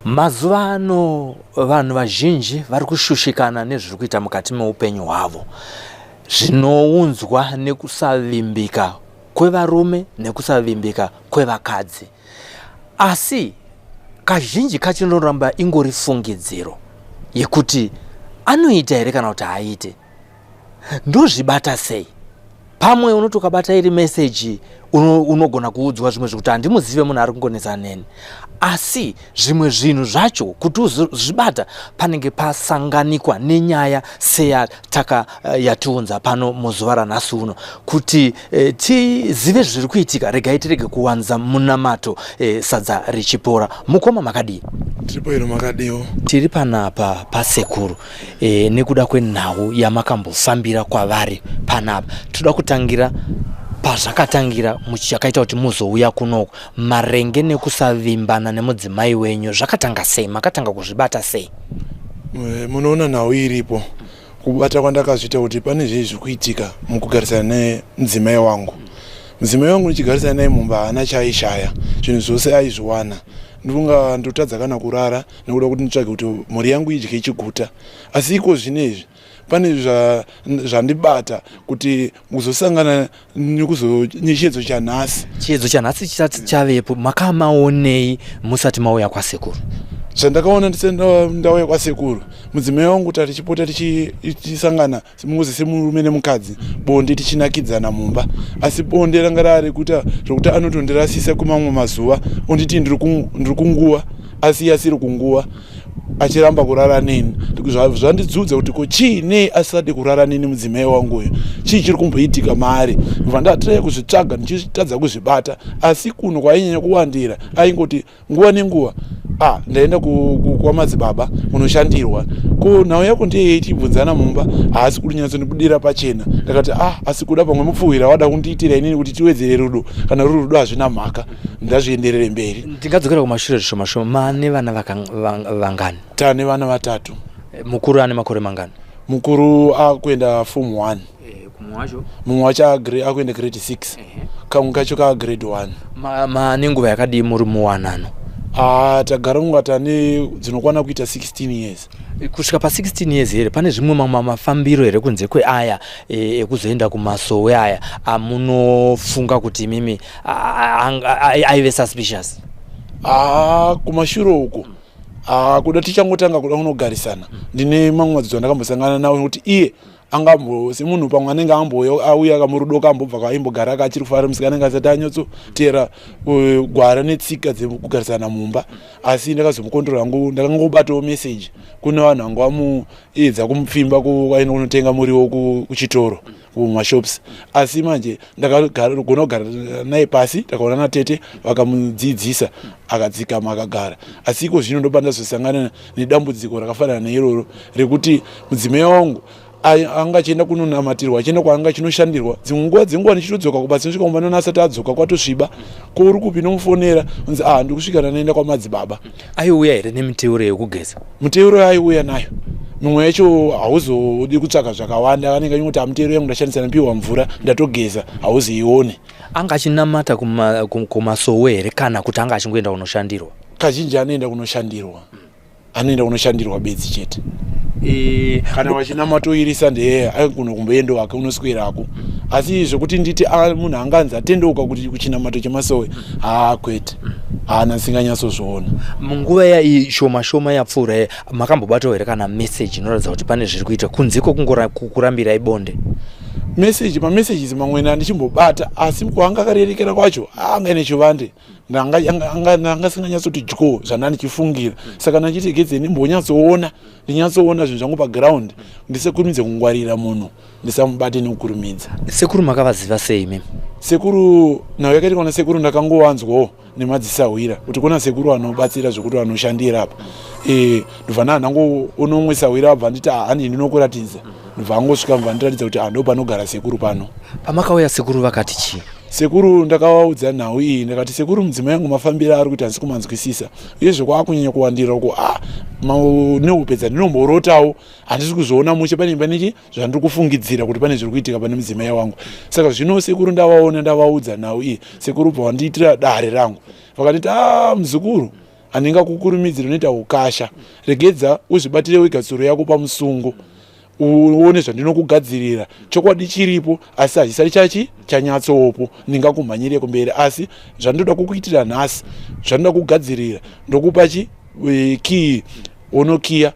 mazuva ano vanhu vazhinji vari kushushikana nezviri kuita mukati meupenyu hwavo zvinounzwa nekusavimbika kwevarume nekusavimbika kwevakadzi asi kazhinji kachinoramba ingori fungidziro yekuti anoita here kana kuti haaite ndozvibata sei pamwe unoti ukabata iri meseji unogona uno kuudzwa zvimwe zvekuti handimuzive munhu ari kungonetsa neni asi zvimwe zvinhu zvacho kuti uzvibata panenge pasanganikwa nenyaya seyataka eh, yatiunza pano muzuva ranhasi uno kuti e, tizive zviri kuitika regai tirege kuwanza munamato e, sadza richipora mukoma makadii tiri paino makadiwo tiri panapa pasekuru e, nekuda kwenhau yamakambofambira kwavari panapa tinoda kutangira pazvakatangira muchakaita kuti muzouya kunoko marenge nekusavimbana nemudzimai wenyu zvakatanga sei makatanga kuzvibata sei eh, munoona nhau iripo kubata kwandakazviita kuti pane zvei zviri kuitika mukugarisana nemudzimai wangu mudzimai wangu ndichigarisana naye mumba haana chaaishaya zvinhu zvose aizviwana ndonga ndotadza kana kurara nekuda kuti nditsvage kuti mhuri yangu idye chiguta asi iko zvine izvi pane zvandibata kuti kuzosangana nekuzochiedzo chanhasi chiedzo chanhasi chisati chavepo makamaonei musati mauya kwasekuru zvandakaona ndisati ndauya kwasekuru mudzimai wangu tatichipota tichisangana semunguzi semurume nemukadzi bonde tichinakidzana mumba asi bonde ranga rari kuita zvokuti anotondirasisa kumamwe mazuva onditi ndiri kunguva asi asiri kunguva achiramba kurara neni zvandidzudza kuti ko chii nei asisade kurara neni mudzimai wangu uyo chii chiri kumboitika maari ndobva ndatiree kuzvitsvaga ndichitadza kuzvibata asi kuno kwainyanya kuwandira aingoti nguva nenguva ah ndaenda kwamadzibaba kunoshandirwa ko nhau yako ndeyei tibvunzana mumba haasi kurinyatsondibudira pachena ndakati ah asi kuda pamwe mupfuhwira wada kundiitira inini kuti tiwedzere rudo kana ruri rudo hazvina mhaka ndazvienderere mberi ndingadzokera kumashure zvishoma shoma mane vana vangani tane vana vatatu mukuru ane makore mangani mukuru akuenda form one Eh, kumwe wacho mumwe wacho agre- akuenda grade 6 kamwe kacho kaa grade 1 ma- ma nenguva yakadii muri muwanano ah tagara kunga tane dzinokwana kuita 16 years kusvika pa 16 years here pane zvimwe mamwe mafambiro here kunze kweaya eh, ekuzoenda kumasowe aya amunofunga kuti imimi a- a- anga- a- aive suspicious ah kumashure uko ah kuda tichangotanga kuda kunogarisana ndine mamwe madzidzo andakambosangana nawo nekuti iye angambo semunhu pamwe anenge ambouya auya kamurudo kambobva kaimbogara ka achiri kufara musika anenge asati anyotsoteera eh, gwara netsika dzekugarisana mumba asi ndakazomukontrol hangu ndakangobatawo message kune vanhu vangu vamuedza kumupfimba kwaenda kunotenga muriwo kuchitoro kumashops asi manje ndakagona kugara naye pasi ndakaona natete vakamudzidzisa akadzikama akagara asi iko zvino ndopa ndazosangana nedambudziko rakafanana neiroro rekuti mudzimai wangu anga achienda kunonamatirwa achienda kwaanga achinoshandirwa dzimwe nguva dzenguva ndichitodzoka kuba tinosvika kumba nona asati adzoka kwatosviba ko uri kupi nomufonera unzi ah ndikusvika ndanoenda kwamadzibaba aiuya here nemiteuro yekugeza muteuro yaiuya nayo mimwe yacho hauzodi kutsvaga zvakawanda anenge anyingoti amutero yangu ndashandisa napiwa mvura ndatogeza hauziione anga achinamata kumasowe here kana kuti anga achingoenda kunoshandirwa kazhinji anoenda kunoshandirwa anoenda kunoshandirwa bedzi chete e, kana vachinamatoirisa ndee aigona kumboenda wake unoswerako asi zvekuti nditi ah, munhu anga anzi atendeuka kuti kuchinamato chemasowe haa kwete haana ndisinganyatsozviona munguva yai shoma shoma yapfuura ye makambobatawo here kana meseji inoratidza kuti pane zviri kuita kunziko kungokurambirai bonde meseji mamessages mamwene andichimbobata asi kuanga akarerekera kwacho anga ine chivande anga singanyatsoti dyo zvandandichifungira saka ndachiti gedze ndimbonyatsoona ndinyatsoona zvinhu zvangu paground ndisekurumidze kungwarira munhu ndisamubate nekukurumidza sekuru makavaziva sei mem sekuru nhau yakaita kwana sekuru ndakangovanzwawo nemadzisahwira kuti kuna sekuru anobatsira zvekuti vanoshandira apa e, ndobva ndanangoonomwe sahwira abva nditi hanini ah, nokuratidza ndobva angosvika mva ndiratidza kuti ah, ndo panogara sekuru pano pamakauya sekuru vakati chii sekuru ndakavaudza nhau iyi ndakati sekuru mudzimai yangu mafambiro ari kuita handisi kumanzwisisa uye zvekwaakunyanya kuwandira uko a ah, neupedza ndinomborotawo handisi kuzviona mushe pane paneki zvandiri kufungidzira kuti pane zviri kuitika pane mudzimai wangu saka zvino sekuru ndavaona ndavaudza nhau iyi sekuru bva wandiitira dare rangu vakanditi a ah, muzukuru handinga kukurumidziri unoita ukasha regedza uzvibatire wega tsuro yako pamusungo uone zvandinokugadzirira chokwadi chiripo asi hazvisati chachi chanyatsoopo ndingakumhanyire kumberi asi zvandoda kukuitira nhasi zvandoda kugadzirira ndokupa chi e, kii unokiya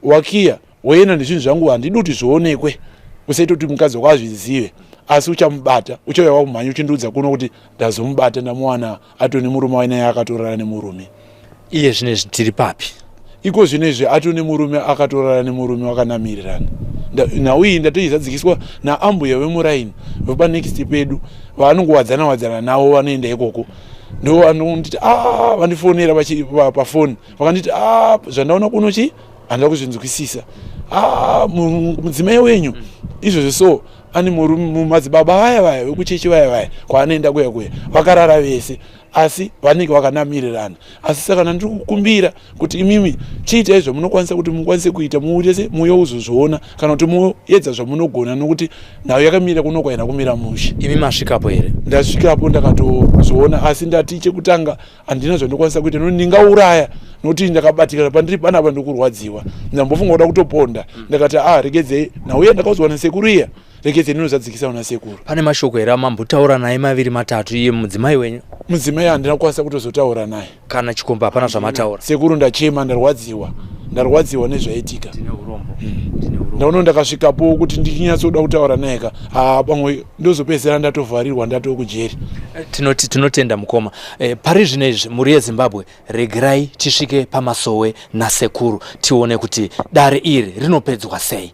wakiya woenda nezvinhu zvangu handidi kuti zvionekwe usaita kuti mukadzi wako azvizive asi uchamubata uchauya wakumhanya uchindiudza kuno kuti ndazomubata ndamuwana atone murume wainaye akatorara nemurume iye zvino izvi tiri papi iko zvino izvi atone murume akatorara nemurume wakanamirirana nhau iyi ndatoizadzikiswa naambuya vemuraini vepa next pedu vaanongowadzana wadzana navo vanoenda ikoko ndo vanonditi a ah, vandifonera pafoni vakanditi ah, zvandaona kuno chi handida kuzvinzwisisa ah, mudzimai wenyu izvozvo so ani mumadzibaba vaya vaya vekuchechi vaya vaya kwaanoenda kuya kuya vakarara vese asi vanenge vakanamirirana asi saka nandiri kukumbira kuti imimi chiita izvo munokwanisa kuti mukwanise kuita muutese muuye uzozviona kana kuti muedza zvamunogona nokuti nhau yakamira kuno kwaina kumira mushe imi masvikapo here ndasvikapo ndakatozviona asi ndati chekutanga handina zvandinokwanisa kuita nokuti ndingauraya nokuti ndakabatikana pandiri panapa ndikurwadziwa ndambofunga kuda kutoponda mm. ndakati a ah, regedzei nhauya ndakaudzwa nasekuru iya rekedzei ndinozadzikisa kuna sekuru pane mashoko here amambotaura naye maviri matatu iye mudzimai wenyu mudzimai handina kukwanisa kutozotaura naye kana chikomba hapana zvamataura sekuru ndachema ndarwadziwa ndarwadziwa nezvaitika mm. ndaono ndakasvikapo kuti ndichinyatsoda kutaura naye ka haa pamwe ndozopedzera ndatovharirwa ndatokujeri tinotenda mukoma E, pari zvino izvi mhuri yezimbabwe regerai tisvike pamasowe nasekuru tione kuti dare iri rinopedzwa sei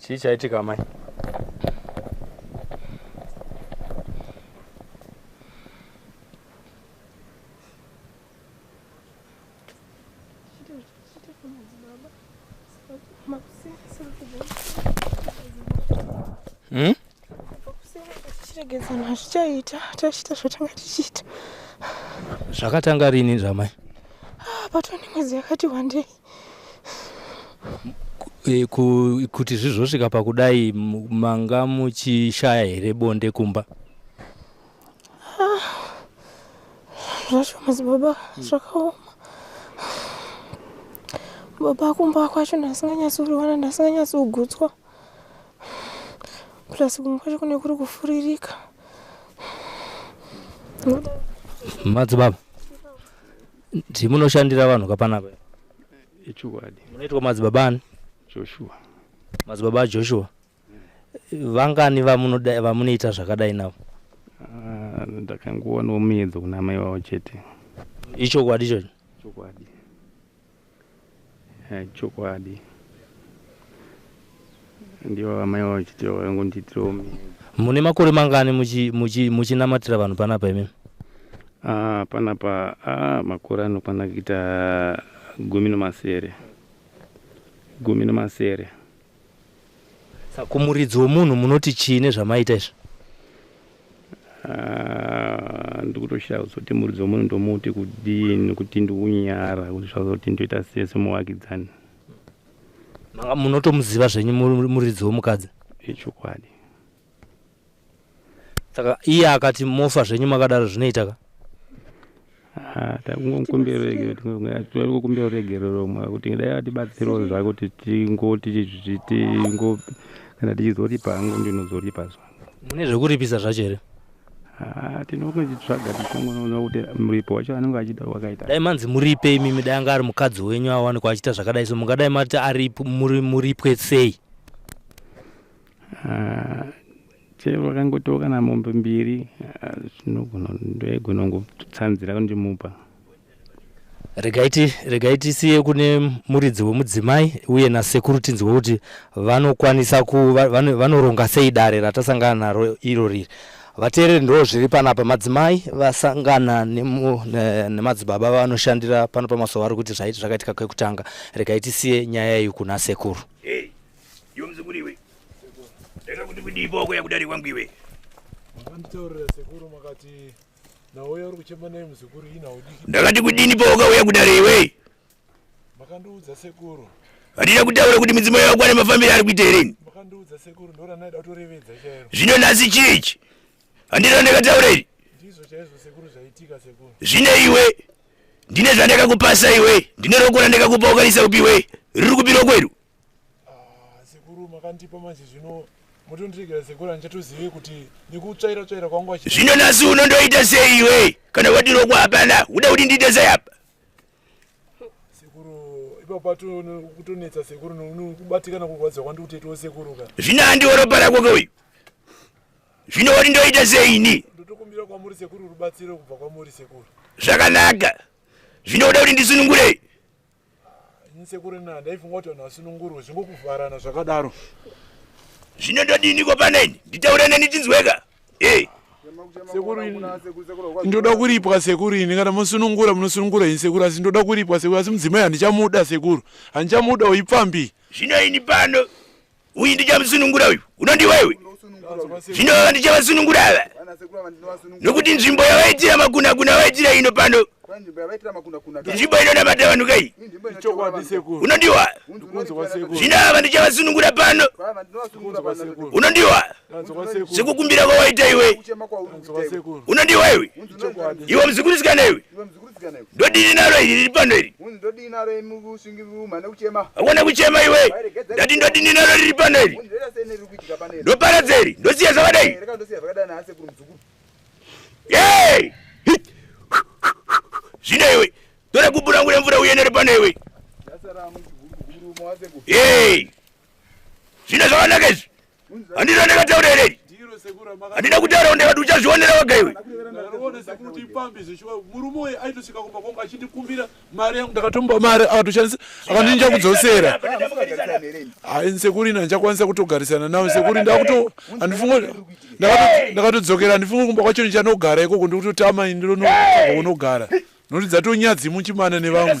chii chaitika amai Hmm? tichiregedzana hazvichaita tachita zvatanga tichiita zvakatanga rini zvamai ah, patone mwedzi yakati wandei e, ku, kuti zvizvosvika pakudai manga muchishaya here bonde kumba zvacho ah, madzibaba hmm. zvakaoma baba kumba kwacho ndasinganyatsoriwana ndasinganyatsogutswa plus kumwe kwacho kune kuri kufuririka madzibaba Ndi munoshandira vanhu ka panapa? Ichokwadi. Munoitwa madzibaba ani? Joshua. Madzibaba aJoshua. Vangani vamunoda vamunoita zvakadai navo? Ah, ndakangoonawo muedzo kuna amai vavo chete. Ichokwadi ichocho? Ichokwadi. Eh, chokwadi ndivo vamai vavo chitiro vaingondiitirawo mhiko mune makore mangani muchi- muchi- muchinamatira vanhu panapa imimi Ah, panapa ah, makore anokwana kuita gumi nemasere gumi nemasere kumuridzi wemunhu munoti chii nezvamaita izvi ah, ndikutoshaya kuzoti muridzi wemunhu ndomuti kudii nekuti ndiunyara kuti zvazoti ndoita sei semuvakidzani munotomuziva zvenyu muridzi wemukadzi ichokwadi saka iye akati mofa zvenyu makadaro zvinoita ka ah, takungokumbira ruregerero rumwe kuti dai atibatsirawo zvako tingo kana tichizoripa hangu ndinozoripa zvangu mune zvekuripisa zvacho here ah, tinongozvitsvaga tichongonoona kuti muripo wacho anenge achida wakaita dai manzi muripe imimi dai anga ari mukadzi wenyu awanikwa achita zvakadai so mungadai mati ari muripwe sei Ah, chero vakangotiwo kana mombe mbiri ah, zvinogona ndoigona ngotsanzira kundimupa regai ti- regai tisiye kune muridzi wemudzimai uye nasekuru tinzwe kuti vanokwanisa ku va- vano- vanoronga sei dare ratasangana naro iro riri vateereri ndo zviri panapa madzimai vasangana nemu- ne- nemadzibaba vanoshandira pano pamasowa vari kuti zvaiti zvakaitika kwekutanga regai tisiye nyaya iyi kuna sekuru Iwe mzukuru iwe. Rega kuti kudii boko yakudari kwangu iwe. Makanditaurira sekuru makati nawo yauri kuchema naye mzukuru ina udiki. Ndakati kudini boko uya kudari iwe. Makandiudza sekuru. Handina kutaura kuti midzimu yako ane mafambiro ari kuita here? Makandiudza sekuru ndora naida kutorevedza chairo. Zvino nhasi chii ichi? Handina ndakataura iri. Ndizvo chaizvo sekuru zvaitika sekuru. Zvine iwe ndine zvandakakupasa iwe ndine roko randakakupa ukanisa kupiwe riri kupi roko iro Ah, sekuru makandipa manje zvino motondiregera sekuru handichatozive kuti nekutsvaira tsvaira kwangu achi zvino nasi uno ndoita sei iwe kana wadiroko hapana uda kuti ndiite sei apa sekuru ipapo pato kutonetsa sekuru nokubatikana kurwadziwa kwandi kutetiwo sekuru ka zvino handiwo ropa rako ke uyu zvino woti ndoita sei ini ndotokumbira kwamuri sekuru rubatsiro kubva kwamuri sekuru zvakanaka zvino uda kuti ndisunungurei ini sekuru nina ndaifunga kuti vanhu vasunungurwe zvingokuvharana zvakadaro zvino ndodiniko paneni nditaure neni tinzweka e sekuru ini ndoda kuripwa sekuru ini kana mosunungura munosunungura ini sekuru asi ndoda kuripwa sekuru asi mudzimai handichamuda sekuru handichamuda uipfambi zvino ini pano uyu ndichamusunungura uyu unondiwa iwe zvino vava ndichavasunungura ava nokuti nzvimbo yavaitira makunakuna vaitira ino pano nzvimbo inonamata vanhu kai unondiwa zvino ava ndichavasunungura pano unondiwa sekukumbira kwawaita iwe unondiwa iwe iwe muzukurisikana iwe ndodini naro iri riri pano iri akona kuchema iwe ndati ndodini naro riri pano iri ndoparadza iri ndosiya zvakadai zvino iwe tora gubu rangu remvura uyenere pano iwe zvino zvakanaka izvi handiti andakataura hereri handina kutaura kunde vati uchazvionera waga iwe ndakatomba mari akatoshandisa akandinja kudzosera sekuri ina ndichakwanisa kutogarisana nawo sekuri ndakuto andifungo ndakatodzokera handifungi kumba kwacho ndichanogara ikoko ndikutotama ini ndinonounogara nokuti dzatonyadzi muchimana nevamwe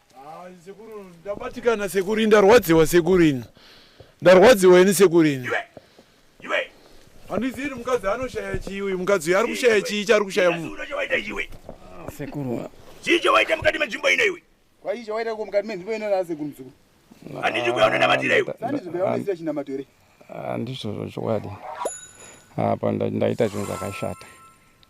sekuru ndabatikana sekuru ndarwadziwa sekuru ini ndarwadziwa ini sekuru ini handizivi kuti mukadzi anoshaya chii uyu mukadzi uyu ari kushaya chii chaari kushaya mu sekuru chii chawaita mukati menzvimbo ino iwe kwai chawaita ko mukati menzvimbo ino naa sekuru muzukuru handiti kuya unonamatira iwe sandizvibaaonesira chinamato here handizvozvo chokwadi apa ndaita zvinhu zvakashata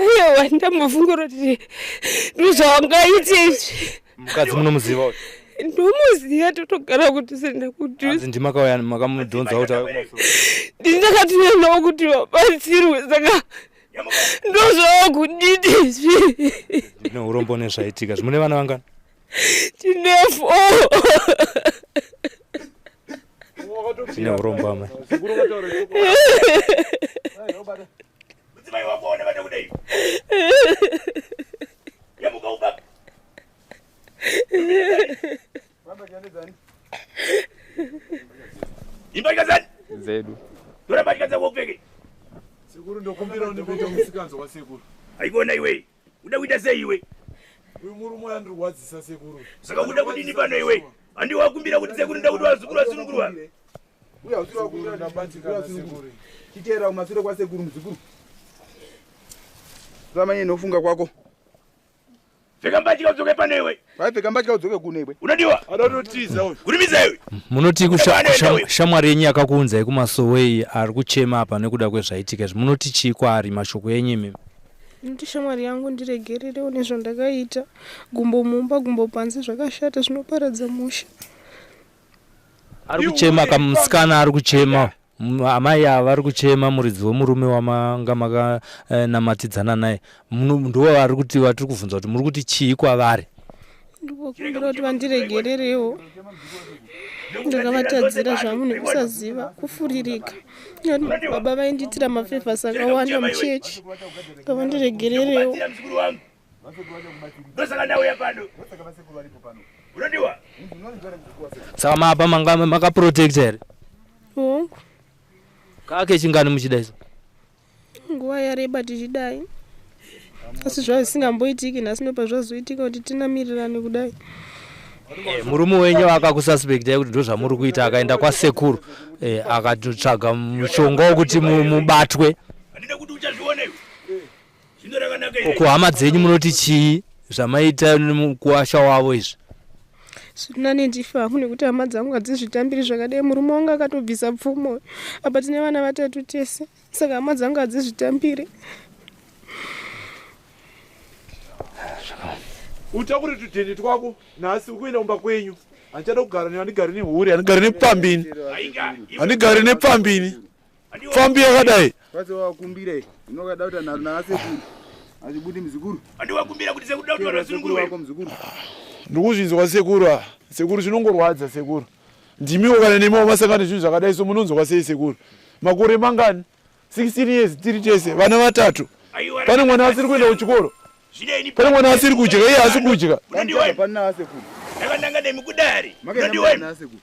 Aiwa ndambofungura kuti ndozvaungaite izvi. Mukadzi munomuziva uyu. Ndomuziva totogara kuti senda kuti. Hanzi ndimakauya makamudhonza kuti auye kumasoro. Ndakatouya nawo kuti vabatsirwe saka ndozvava kudidi izvi. Ndine urombo nezvaitika. Zvimune vana vangani? Tine four. neuromba mai mudzimai wako one vada kudai yamuka uba imbatya zani dzedu tora mbatya dzako upfeke sekuru ndokumbira undipote musikanzi wasekuru haikona iwei uda kuita sei iwe uyu murume andirwadzisa sekuru saka uda kudini pano iwe handi wakumbira kuti sekuru nda kuti vazukuru vasunungurwa titeera kumasure kwasekuru muzukuru ramanye nofunga kwako pfeka mbatya udzoke pano iwe vaipfeka mbatya udzoke kuno iwe unodiwa anototiza uyu kurimiza iwe munoti shamwari yenyu yakakuunzai kumasowe iyi ari kuchema apa nekuda kwezvaitika izvi munoti chii kwaari mashoko enyu imimi noti shamwari yangu ndiregererewo nezvandakaita gumbo mumba gumbo panze zvakashata zvinoparadza musha ari kuchema kamusikana ari kuchema M- amai ava vari kuchema muridzi wemurume wamanga makanamatidzana naye Muno- ndiwo vari kuti vatiri kubvunza kuti muri kuti chii kwavari ndikukumbira kuti vandiregererewo ndakavatadzira zvangu nekusaziva kufuririka Nekuti baba vaindiitira mafevhasi akawanda muchechi ngavandiregererewo ndosaka ndauya pano unodiwa saka maapa manga makaprotect here hongu kake chingani muchida iso nguva yareba tichidai asi zvazvisingamboitiki nhasi ndopa zvazoitika kuti tinamirirane kudai Eh, murume wenyu akakususpectai kuti ndozvamuri kuita akaenda kwasekuru eh, akatotsvaga mushonga wekuti mubatwe ko hama dzenyu munoti chii zvamaita mukuwasha wavo izvi zvirinani ndifa hangu nekuti hama dzangu hadzizvitambiri zvakadai murume wangu akatobvisa pfumo apa tine vana vatatu tese saka hama dzangu hadzizvitambiri utakure tudhende twako nhasi ukuenda kumba kwenyu handichada kugara ne handigari nehure handigari nepfambini handigari nepfambini pfambi yakadai kwase wakumbira inokada kuti anaro naasekuru azvibudi muzukuru andiwakumbira kuti sekuda kuti vanhu vasununguru wako muzukuru ndikuzvinzwa sekuru a sekuru zvinongorwadza sekuru ndimiwo kana nemiwo masangano zvinhu zvakadai so munonzwa sei sekuru makore mangani 16 years tiri tese vana vatatu pane mwana asiri kuenda kuchikoro pane mwana asiri kudya iye asi kudya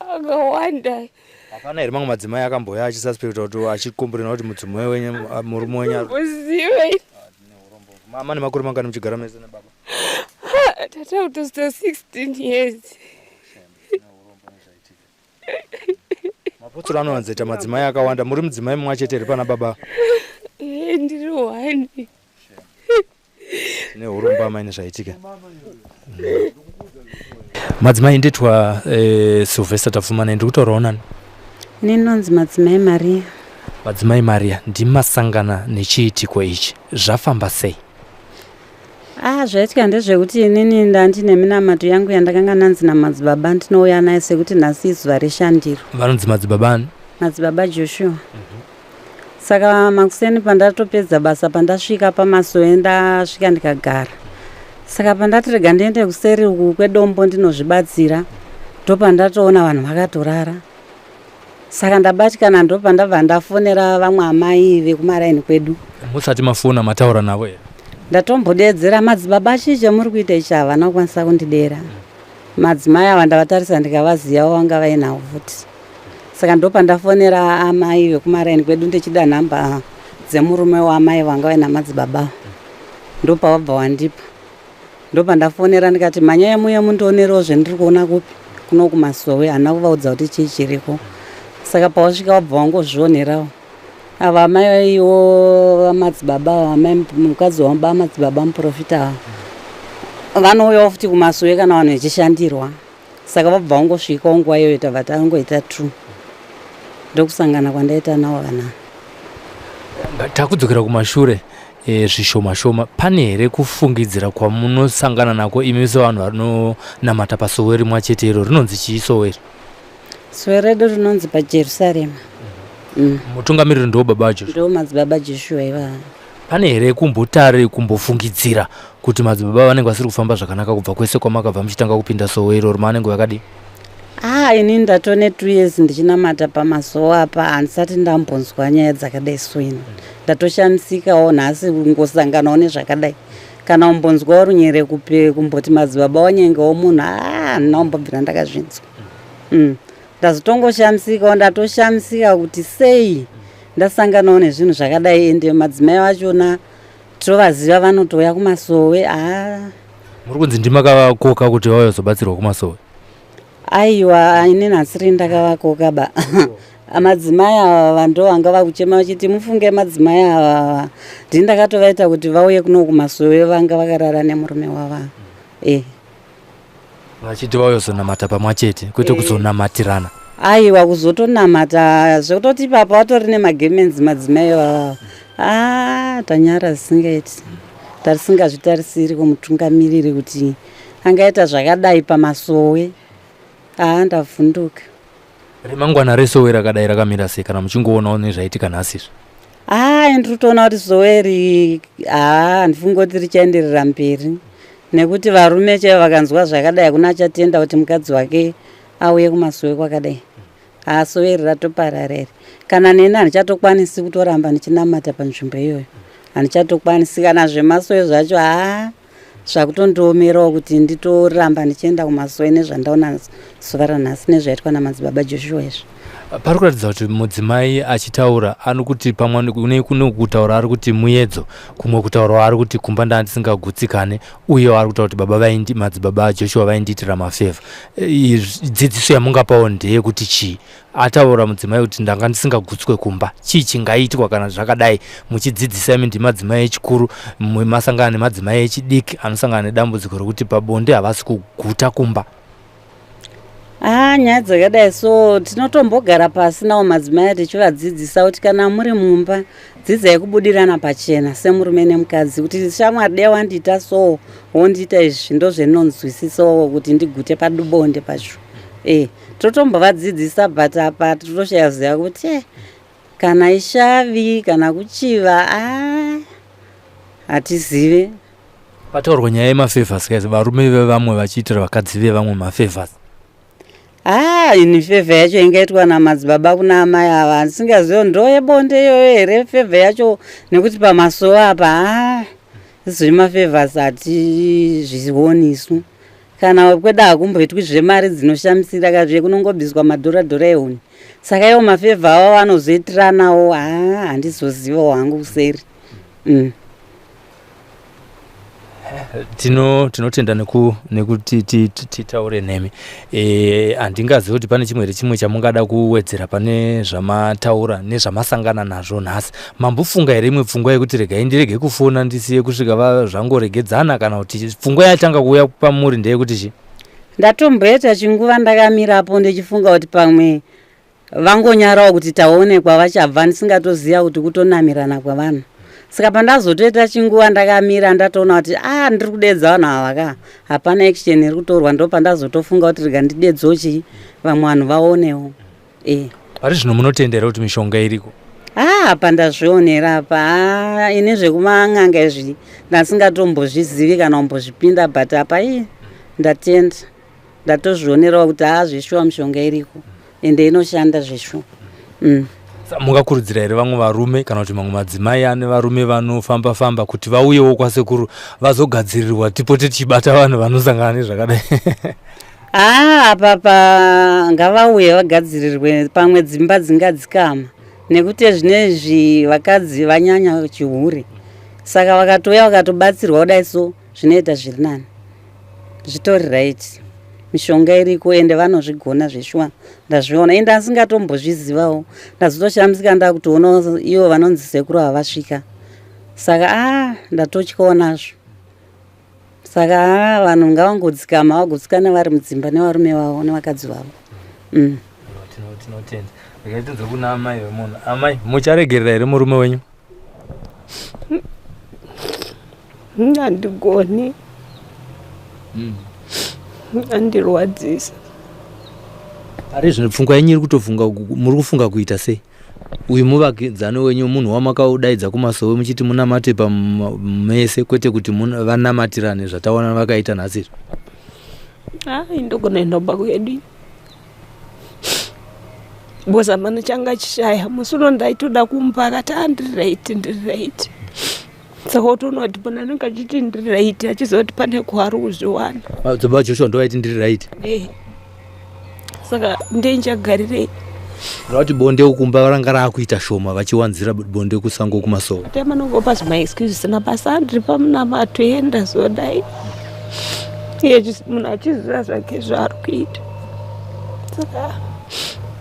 akawanda hapana here mamwe madzimai akamboya achisuspecta kuti achikomburena kuti mudzimai wenyu murume wenyu mama nemakore mangani muchigara mese nebaba tata kutosita 16 years mapotsoro anowanzaita madzimai akawanda muri mudzimai mumwe achete here pana baba eh, ndiri one tine huromba amai nezvaitika madzimai nditwa eh, sylvester tapfumana ndiri kutaurawo nani ninonzi madzimai maria madzimai maria ndimasangana nechiitiko ichi zvafamba sei ah zvaitika ndezvekuti inini ndandine minamato yangu yandakanga nanzi namadzibaba ndinouya naye sekuti nhasi izuva reshandiro vanonzi madzibaba ani madzibaba joshua mm -hmm. saka makuseni pandatopedza basa pandasvika pamasoe ndasvika ndikagara saka pandati rega ndiende kuseri uku kwedombo ndinozvibatsira ndopandatoona vanhu vakatorara saka ndabatikana ndopandabva ndafonera vamwe amai vekumaraini kwedu musati mafona mataura navo here ndatombodeedzera madzibaba chii chamuri kuita ichi havana kukwanisa kundidera Madzimai ava ndavatarisa ndikavaziyawo vanga vainawo futi. Saka ndopandafonera amai vekumaraini kwedu ndichida nhamba dzemurume waamai vanga vaina madzibaba ava. Ndopavabva wandipa. Ndopandafonera ndikati manyaya muye mundionerewo zvendiri kuona kupi kuno kumasowe hana kuvaudza kuti chii chiriko. Saka pawasvika wabva wangozvionerawo. ava amaiwo vamadzibaba mukadzi wamba madzibaba muprofita ava vanouyawo futi kumasowe kana vanhu vechishandirwa saka vabva vangosvikawo nguva iyoyo tava tangoita true ndokusangana kwandaita nawo vana takudzokera kumashure e, zvishoma shoma pane here kufungidzira kwamunosangana nako imi sevanhu vanonamata pasowe rimwa chete iro rinonzi chii sowe iri Zwe redu rinonzi paJerusarema. Mhm. Mm. Mutungamiriri ndo baba Joshua. Ndo madzibaba Joshua iva. Pane here kumbotari kumbofungidzira kuti madzibaba vanenge vasiri kufamba zvakanaka kubva kwese kwamakabva muchitanga kupinda sowo iroro maanenge vakadii? Ah, ini ndatone two years ndichinamata pamasowo apa handisati ndambonzwa nyaya dzakadai so ini ndatoshamisikawo nhasi kungosanganawo nezvakadai kana umbonzwa runyerekupe kumboti madzibaba wanyengewo munhu ah, handina kumbobvira ndakazvinzwa mm. ndazotongoshamisikawo ndatoshamisika kuti sei ndasanganawo nezvinhu zvakadai ende madzimai vachona tovaziva vanotouya kumasowe haa muri kunzi ndimakakoka kuti vauya zobatsirwa kumasowe aiwa ini nhasiri ndakavakoka ba madzimai ava vando vanga vakuchema vachiti mufunge madzimai avava ndini ndakatovaita kuti vauye kuno kumasowe vanga vakarara nemurume wava e eh. vachiti vauyozonamata pamwa chete kwete eh. kuzonamatirana aiwa kuzotonamata zvekutoti ipapa vatori nemagemens madzimai vava ah, tanyara zisingaiti tarisingazvitarisiri kumutungamiriri kuti angaita zvakadai pamasowe aa ah, ndavhunduka remangwana resowe rakadai rakamira sei kana muchingoonawo nezvaitika nhasi izvi haa ah, ndiri kutoona kuti sowe ri haa ah, handifungi kuti richaenderera mberi nekuti varume chaivo vakanzwa zvakadai hakuna achatenda kuti mukadzi wake auye kumasowe kwakadai haa ah, sowe ri ratoparara iri kana neni handichatokwanisi kutoramba ndichinamata panzvimbo iyoyo handichatokwanisi kana zvemasowe zvacho haa zvakutondiomerawo kuti nditoramba ndichienda kumasowe nezvandaona zuva ranhasi nezvaitwa namadzibaba joshua izvi pari kuratidza kuti mudzimai achitaura ari kuti pamwe kune kune kutaura ari kuti muyedzo kumwe kutaurawo ari kuti kumba ndaa ndisingagutsikane uyewo ari kutaura kuti baba vaindi madzibaba ajoshua vaindiitira mafevha dzidziso yamungapawo ndeyekuti chii ataura mudzimai kuti ndanga ndisingagutswe kumba chii chingaitwa kana zvakadai muchidzidzisa imi ndimadzimai echikuru masangana nemadzimai echidiki anosangana nedambudziko rekuti pabonde havasi kuguta kumba haa ah, nyaya dzakadai so tinotombogara pasi nawo madzimai tichivadzidzisa kuti kana muri mumba dzidzai kubudirana pachena semurume nemukadzi kuti shamwari dea wandiita so wondiita izvi ndozvenonzwisisawo kuti ndigute padubonde pacho ee eh. totombovadzidzisa but apa tinoshaya ziva kuti eh, kana ishavi kana kuchiva ah, hatizive pataurwa nyaya yemafavors guys varume vevamwe vachiitira vakadzi vevamwe mafavors haa ah, ini favor yacho ingaitwa namadzibaba kuna amai ava handisingazivo ndo yebonde iyoyo here favor yacho nekuti pamasowo apa haa ah, izvemafavors hatizvioni isu Kana wekweda hakumboitwi zvemari dzinoshamisira ka zviye kunongobiswa madhora dhora ehuni. Saka iwo mafevha awo vanozoitiranawo haa handizozivawo hangu kuseri. Mm. tino tinotenda neku nekuti ti- ti- titaure nemi Eh, handingazivi kuti pane chimwe here chimwe chamungada kuwedzera pane zvamataura nezvamasangana nazvo nhasi Mambofunga here imwe pfungwa yekuti regai ndirege kufona ndisiye kusvika va zvangoregedzana kana kuti pfungwa yatanga kuuya pamuri ndeyekuti chi? Ndatomboita chinguva ndakamirapo ndichifunga kuti pamwe vangonyarawo kuti taonekwa vachabva ndisingatoziva kuti kutonamirana kwevanhu saka pandazotoita chinguva ndakamira ndatoona kuti a ah, ndiri kudedza vanhu ava ka hapana action iri kutorwa ndo pandazotofunga kuti rega ndidedzochii vamwe vanhu vaonewo eh. pari zvino munotendera kuti mishonga iriko haa ah, pandazvionera apa haa ah, ini zvekuman'anga izvi ndasingatombozvizivi kana kumbozvipinda but apa i ndatenda ndatozvionerawo kuti haa ah, zveshuwa mishonga iriko ende inoshanda zveshuwa mm. mungakurudzira here vamwe varume kana kuti mamwe madzimai ane varume vanofamba famba kuti vauyewo kwasekuru vazogadzirirwa tipote tichibata vanhu vanosangana nezvakadai haa apa pa ngavauye vagadzirirwe pamwe dzimba dzingadzikama nekuti zvine izvi vakadzi vanyanya chihure saka vakatouya vakatobatsirwa kudai so zvinoita zviri nani zvitori right mishonga iriko ende vanozvigona zveshuwa ndazviona ende asingatombozvizivawo ndazotoshamisika ndakutoona ivo vanonzi sekuru havasvika saka a ah, ndatotyawo nazvo saka haa vanhu ngavangodzikama vagotsikana vari mudzimba nevarume vavo nevakadzi vavo mm. tinotenda regai tinze kuna amai vemunhu amai mucharegerera here murume wenyu handigoni mm. andirwadzisa ari zvino pfungwa yenyu iri kutofunga muri kufunga kuita sei uyu muvakidzani wenyu munhu wamakaudaidza kumasowe muchiti munamate pamese kwete kuti vanamatirane zvataona vakaita nhasi izvi hai ndogona indomba kwedu because amana changa chishaya musi uno ndaitoda kumba akati andirireiti ndirireiti Sekuti unoti pona anenge achiti ndiri right achizoti pane kuhari kuzviwana. Madzibaba ah, Joshua ndovaiti ndiri right. Eh. Saka ndenjagarirei. Vati bonde ukumba ranga rakuita shoma vachiwanzira bonde kusango kumasowa. Tema nongopa zvima excuses na basa ndiri pamuna matoenda zodai. Iye munhu achiziva zvake zvaari kuita. Saka